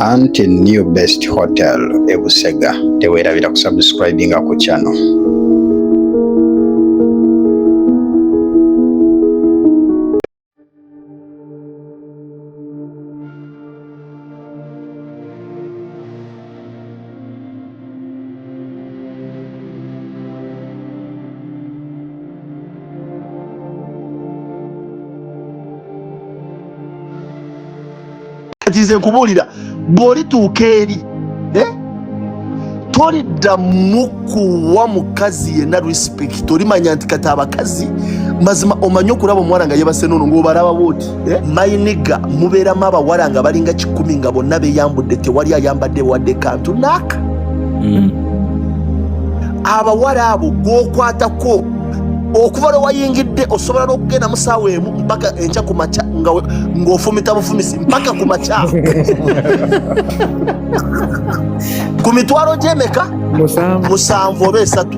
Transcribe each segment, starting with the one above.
anti new best hotel e Busega teweerabira kusubscribinga ku channel kati nze nkubuulira bw'olituuka eri eh? toliddamu kuwa mukazi yenna respect olimanya nti kati abakazi mazima omanyi okulaba omuwala nga yebase nono ng'obalaba bwoti Eh? mayiniga mubeeramu abawala nga balinga kikumi nga bonna beyambudde tewali ayambadde wadde kantu naaka mm. abawala abo gwokwatako okuva lwe wayingidde osobola n'okugenda mu saawa emu mpaka enkya ku makya ng'ofumita bufumisi mpaka ku makya ku mitwalo gy'emeka musanvu oba esatu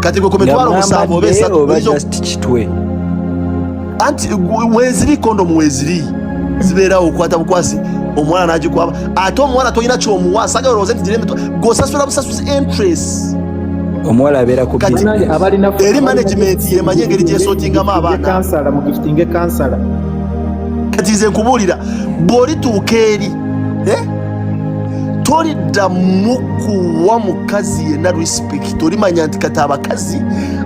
kati gwe ku mitwalo musanvu oba esatu anti weziri kondomu weziri zibeerawo okukwata bukwasi omuwala nagikwaba ate omuwala tolina kyomuwa sagala olowooze nti giremito gosasula busasuzi interest omuwala abeera ku eri management yemanyi engeri gyesotingamu abaana kati nze nkubuulira bw'olituuka eri eh? tolidda mukuwa mukazi yenna respect olimanya nti kati abakazi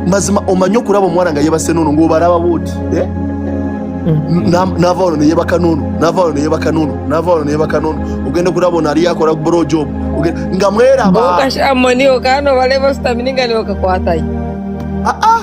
mazima omanye okulaba omwana nga yebase nono ngaobalaba bwoti eh? mm. nava ono neyebaka nono nava ono neyebaka nono nava ono neyebaka nono ogenda okulaba ono aliyo akola bro job nga mwerabamoni okano balebasitamininga newakakwatayo aa ah, ah.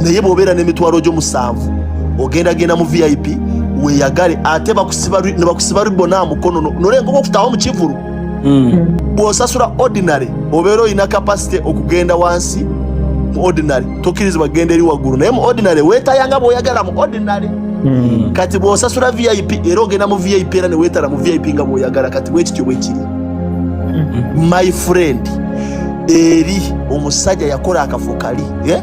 naye bwobeera n'emitwalo gyo musanvu ogenda genda mu vip weyagale ate bakusiba ribona mukono nolengoba okutawo mu kivulu hmm. bwosasula ordinary obeera olina kapasite okugenda wansi mu ordinary tokkirizibwa kugenda eri waggulu naye mu ordinary wetayanga bwoyagala mu ordinary hmm. kati bwosasula vip era ogenda mu vip era newetala mu vip nga bwoyagala kati bwekityo bwekiri hmm. my friend eri omusajja yakola akafo kali eh?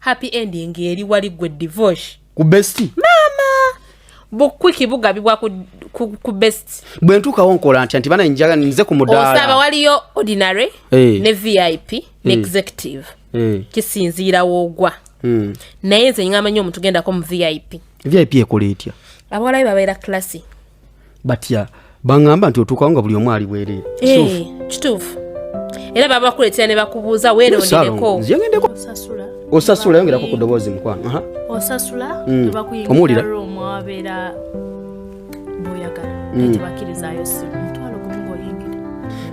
happy ending eri wali gwe divorce ku best mama bukwiki bugabibwa ku, ku, ku best bwe ntuukawo nkola ntya nti bana njaga nze ku mudaala osaba waliyo ordinary hey. Eh. ne vip hey. ne hmm. executive hey. Eh. kisinziirawo ogwa hmm. naye nze ngamanya omuntu gendako mu vip vip ekola etya abawalabe babeera classy batya baŋŋamba nti otuukawo nga buli omu ali bwereere eh, kituufu era baba bakuleetera ne bakubuuza weerondereko osasula yongerako ku ddoboozi mukwano osasula mm. omuwulira omwabeera boyagala mm. tebakirizayo simu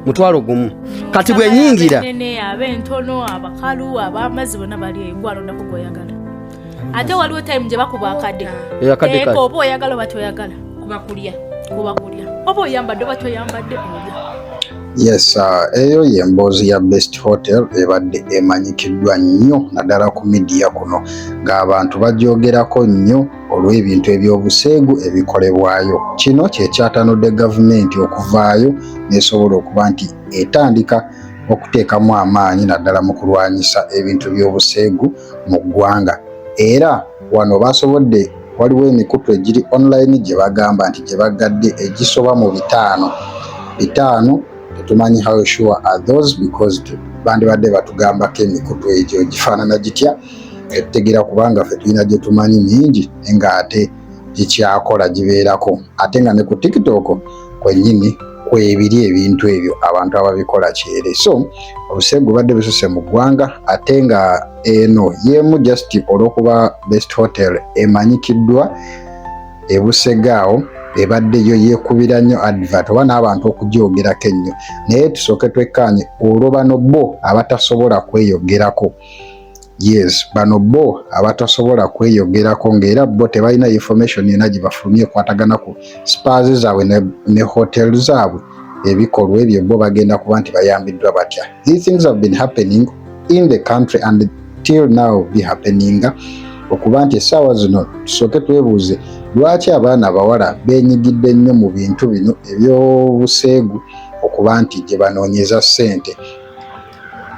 mutwalo gumu kati bwenyingira abentono abakalu abamazi bona bali gwalondako gwoyagala ate waliwo time gye bakuba akade eh, eh, oba oyagala oba toyagala kuba kulya kuba kulya oba oyambadde oba toyambadde yes uh, eyo ye mboozi ya best hotel ebadde emanyikiddwa nnyo naddala ku midiya kuno ng'abantu bagyogerako nnyo olw'ebintu ebyobuseegu ebikolebwayo kino kyekyatanudde gavumenti okuvaayo nesobola okuba nti etandika okuteekamu amaanyi naddala mu kulwanyisa ebintu by'obuseegu mu ggwanga era wano baasobodde waliwo emikutu egiri online gye bagamba nti gye baggadde egisoba mu bitaano bitaano tetumanyi how sure are those because bandibadde batugambako emikutu egyo gifaanana gitya etutegera kubanga ffe tulina gye tumanyi mingi nga ate gikyakola gibeerako ate nga ne ku tiktok kwennyini kwebiri ebintu ebyo abantu ababikola kyere so obuse gubadde bususe mu ggwanga ate nga eno yeemu just olwokuba best hotel emanyikiddwa ebusegaawo ebadde yo yekubira nnyo advert oba n'abantu okugyogerako ennyo naye tusooke twekkaanye olwo bano bo abatasobola kweyogerako Yes, bano bo abatasobola kweyogerako nga era bo tebalina information yona gyebafulumya ekwatagana ku spars zaabwe ne, ne hotel zaabwe ebikolwa ebyo bo bagenda kuba nti bayambiddwa batya. These things have been happening in the country and till now be happening okuba nti essaawa zino tusooke twebuuze lwaki abaana abawala benyigidde nnyo mu bintu bino ebyobuseegu okuba nti gye banoonyeza ssente.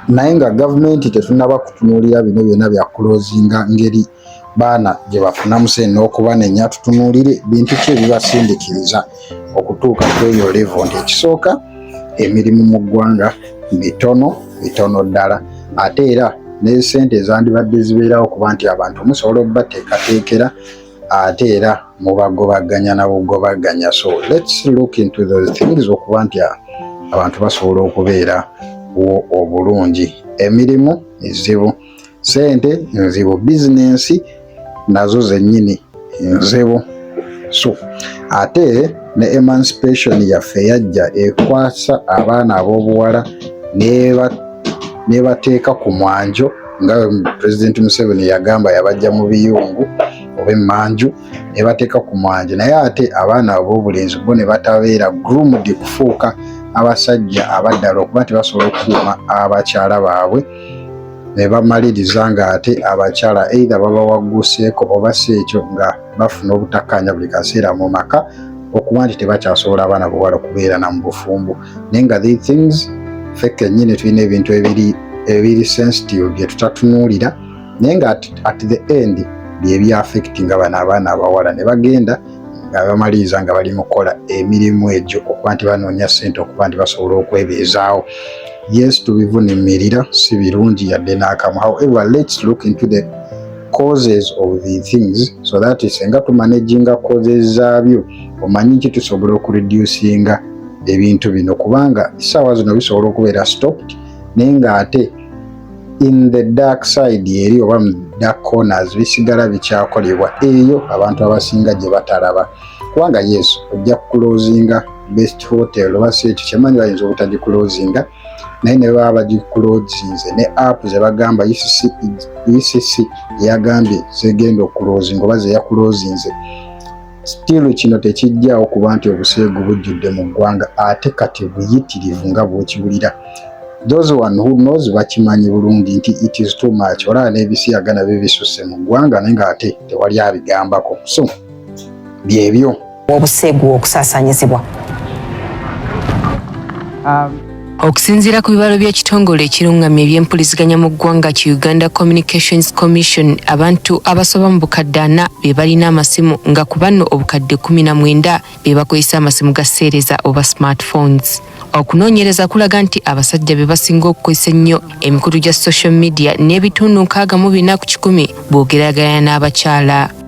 naye nga gavumenti tetunaba kutunuulira bino byona bya kulozinga ngeri baana gye bafunamu sente n'okubanenya tutunuulire bintu ki ebibasindikiriza okutuuka ku eyo levo nti ekisooka emirimu mu ggwanga mitono mitono ddala ate era n'esente ezandibadde zibeerawo kuba nti abantu musobola obubateekateekera ate era mubagobaganya nabugobaganya so let's look into those things okuba nti abantu basobola okubeera wo obulungi emirimu mizibu sente nzibu bizinensi nazo zennyini nzibu so ate ne emancipation yaffe yajja ekwasa abaana ab'obuwala nebateeka ku mwanjo nga president Museveni yagamba yabajja mu biyungu oba emmanju ne bateeka ku mwanjo naye ate abaana ab'obulenzi bo ne batabeera groomed kufuuka abasajja abaddala okuba nti basobola okukuuma abakyala baabwe ne bamaliriza ng'ate abakyala eitha babawagguseeko oba si ekyo nga bafuna obutakkaanya buli kaseera mu maka okuba nti tebakyasobola abaana bawala okubeerana mu bufumbo naye nga the things ffe kennyini tulina ebintu ebiri ebiri sensitive bye tutatunuulira naye nga at, at the end byebyaffect nga bano abaana abawala ne bagenda nga bamaliriza nga bali mukukola emirimu egyo okuba nti banoonya ssente okuba nti basobola okwebeezaawo yes tubivunimirira si birungi yadde n'akamu however let's look into the causes of the things so that senga tumanaginga causes zaabyo omanyi nti tusobola okureducinga ebintu bino kubanga essaawa zino bisobola okubeera stopped naye ng'ate in the dark side eri oba mu dark corners bisigala bikyakolebwa eyo abantu abasinga gye batalaba kubanga yes ojja kukulozinga best hotel oba si ekyo kyemanyi bayinza obutagikulozinga naye ne baba bagikulozinze ne app ze bagamba ucc e yagambye zegenda okulozinga oba zeyakulozinze Still kino tekijjaawo kuba nti obuseegu bujjudde mu ggwanga ate kati buyitirivu nga bwokiwulira those one who knows bakimanyi bulungi nti it is too much olaba n'ebisiyaga nabyo bisusse mu ggwanga naye nga ate tewali abigambako so byebyo obuseegu okusaasaanyizibwa um, Okusinziira ku bibalo by'ekitongole ekirungamya ebyempuliziganya mu ggwanga ki Uganda Communications Commission, abantu abasoba mu bukadde ana be balina amasimu nga ku banno obukadde kumi na mwenda be bakozesa amasimu ga seereza oba smartphones. Okunoonyereza kulaga nti abasajja be basinga okukozesa ennyo emikutu gya social media n'ebitundu nkaaga mu bina ku kikumi bw'ogeraageranya n'abakyala.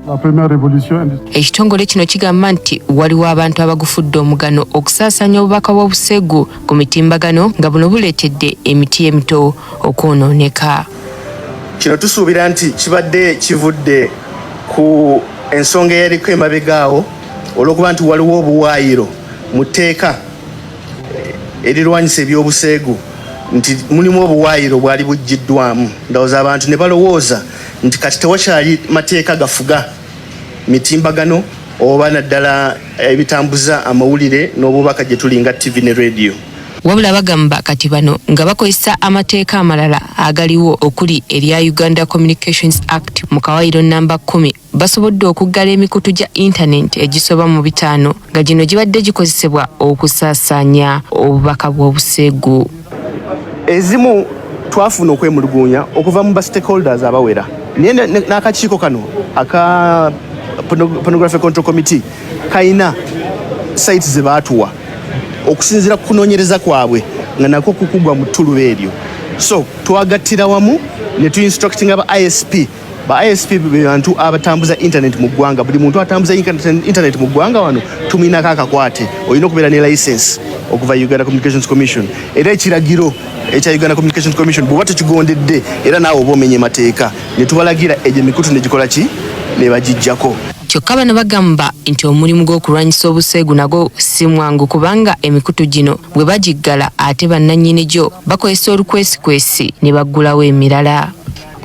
Ekitongole kino kigamba nti waliwo abantu abagufudde omugano okusaasaanya obubaka bw'obuseegu ku mitimbagano nga buno buleetedde emiti emito okwonooneka. Kino tusuubira nti kibadde kivudde ku ensonga eyaliko emabega awo olw'okuba nti waliwo obuwaayiro mu tteeka erirwanyisa eby'obuseegu nti mulimu obuwaayiro bwali buggiddwamu ndowooza abantu ne balowooza nti kati tewakyali mateeka gafuga mitimbagano oba naddala ebitambuza amawulire n'obubaka gye tuli nga ttivi ne rediyo wabula bagamba kati bano nga bakozesa amateeka amalala agaliwo okuli erya uganda communications act mu kawayiro namba kumi basobodde okuggala emikutu gya intanenti egisoba mu bitaano nga gino gibadde gikozesebwa okusaasaanya obubaka bw'obuseegu ezimu twafuna okwemulugunya okuva mu bastakeholders abawera naye n'akakiiko kano aka pornography control committee kalina site ze baatuwa okusinziira ku kunoonyereza kwabwe nga nakwo kukugwa mu ttuluba eryo so twagattira wamu ne tuinstructinga ba isp ba ISP be bantu abatambuza internet mu ggwanga. Buli muntu atambuza internet mu ggwanga wano tumiinako akakwate, olina okubeera ne license okuva Uganda Communications Commission era ekiragiro ekya Uganda Communications Commission bw'oba tekigondedde era naawe oba omenye mateeka ne tubalagira egyo emikutu ne gikola ki ne bagiggyako. Kyokka bano bagamba nti omulimu gw'okulwanyisa obuseegu nagwo si mwangu kubanga emikutu gino bwe bagiggala ate bannannyini gyo bakozesa olukwesikwesi ne baggulawo emirala.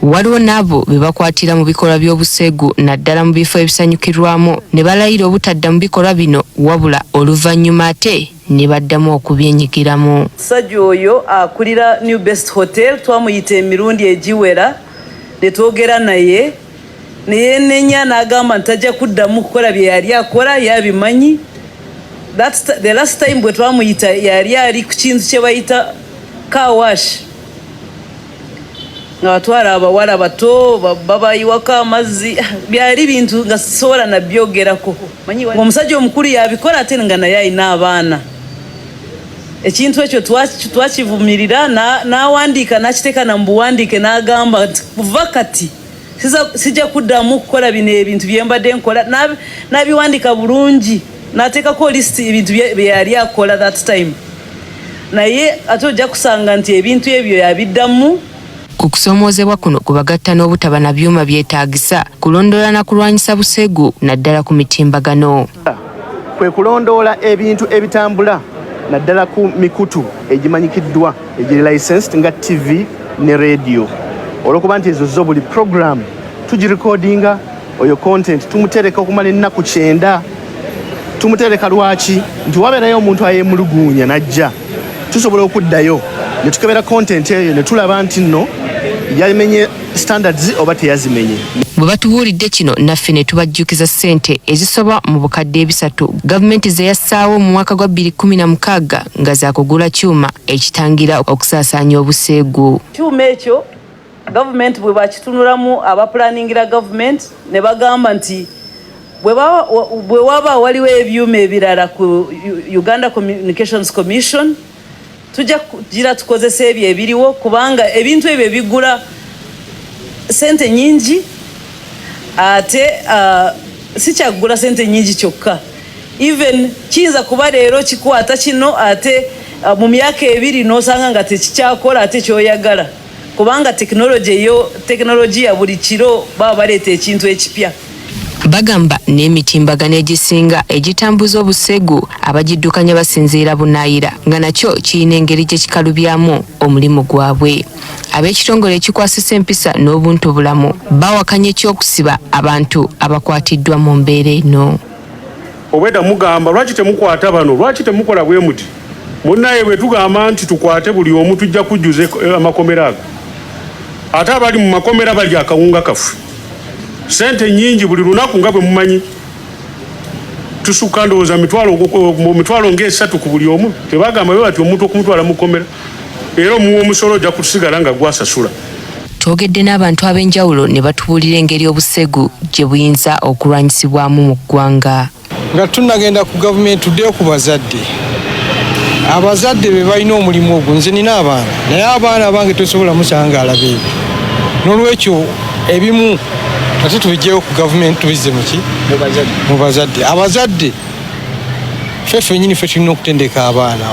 Waliwo n'abo be bakwatira mu bikolwa by'obuseegu naddala mu bifo ebisanyukirwamu ne balayira obutadda mu bikolwa bino wabula oluvannyuma ate ne baddamu okubyenyigiramu. Omusajja oyo akulira New Best Hotel twamuyita emirundi egiwera ne twogera naye ne yeenenya n'agamba nti tajja kuddamu kukola bye yali akola ye abimanyi. The last time bwe twamuyita yali ali ku kintu kye bayita car wash. nga batwala abawala bato babayiwako amazzi byali bintu nga sisobola nabyogerako omusajja omukulu yabikola ate nga naye alina abaana ekintu ekyo twakivumirira n'awandiika n'akiteeka na mu buwandiike n'agamba nti kuva kati sijja kuddamu kukola bino ebintu bye mbadde nkola nabiwandika bulungi nateekako list ebintu byeyali akola that time naye ate ojja kusanga nti ebintu ebyo yabiddamu ku kusoomoozebwa kuno kubagatta n'obutaba na byuma byetaagisa kulondoola na kulwanyisa busegu naddala ku mitimbagano kwe kulondoola ebintu ebitambula naddala ku mikutu egimanyikiddwa egiri licensed nga ttivi ne radio olwokuba nti ezo zo buli program tugirikodinga oyo content tumutereka okumala ennaku kyenda tumutereka lwaki nti wabeerayo omuntu ayemuluguunya najja tusobola okuddayo ne tukebera kontenti eyo ne tulaba nti nno yamenye standards oba teyazimenye bwe batubuulidde kino naffe ne tubajjukiza ssente ezisoba mu bukadde ebisatu gavumenti ze yassaawo mu mwaka gwa 2016 nga za kugula kyuma ekitangira okusaasaanya obuseegu kyuma ekyo gavumenti bwe bakitunulamu abapulaningira gavumenti ne bagamba nti bwe waba waliwo ebyuma ebirala ku uganda communications commission tujja kugira tukozesa ebyo ebiriwo kubanga ebintu ebyo bigula sente nyingi ate uh, sikyakugula sente nyingi kyokka even kiyinza kuba leero kikwata kino ate uh, mu myaka ebiri n'osanga nga tekikyakola ate kyoyagala kubanga tekinologi eyo tekinologiya buli kiro baba baleeta ekintu ekipya bagamba n'emitimbagano egisinga egitambuza obusegu abagiddukanya basinziira bunaayira nga nakyo kirina engeri gye kikalubyamu omulimu gwabwe ab'ekitongole ekikwasisa empisa n'obuntu bulamu bawakanya eky'okusiba abantu abakwatiddwa mu mbeera eno obweda mugamba lwaki temukwata bano lwaki temukola bwe muti munaye bwe tugamba nti tukwate buli omu tujja kujjuza eh, amakomera ago ate abali mu makomera bali akawunga kaffe sente nyingi buli lunaku nga bwe mumanyi tusukka ndowooza mitwalo mitwalo ng'esatu ku buli omu tebagamba be bati omuntu okumutwala mu komera era omuwa omusolo ojja kusigala nga gwasasula twogedde n'abantu ab'enjawulo ne batubuulira engeri obusegu gye buyinza okulwanyisibwamu mu ggwanga nga tunagenda ku gavumenti tuddeyo ku bazadde abazadde be balina omulimu ogwo nze nina abaana naye abaana abange tosobola musangaala beebi n'olwekyo ebimu ate tubijjeyo ku gavumenti tubizze muki mu bazadde abazadde ffe ffenyini ffe tulina okutendeka abaana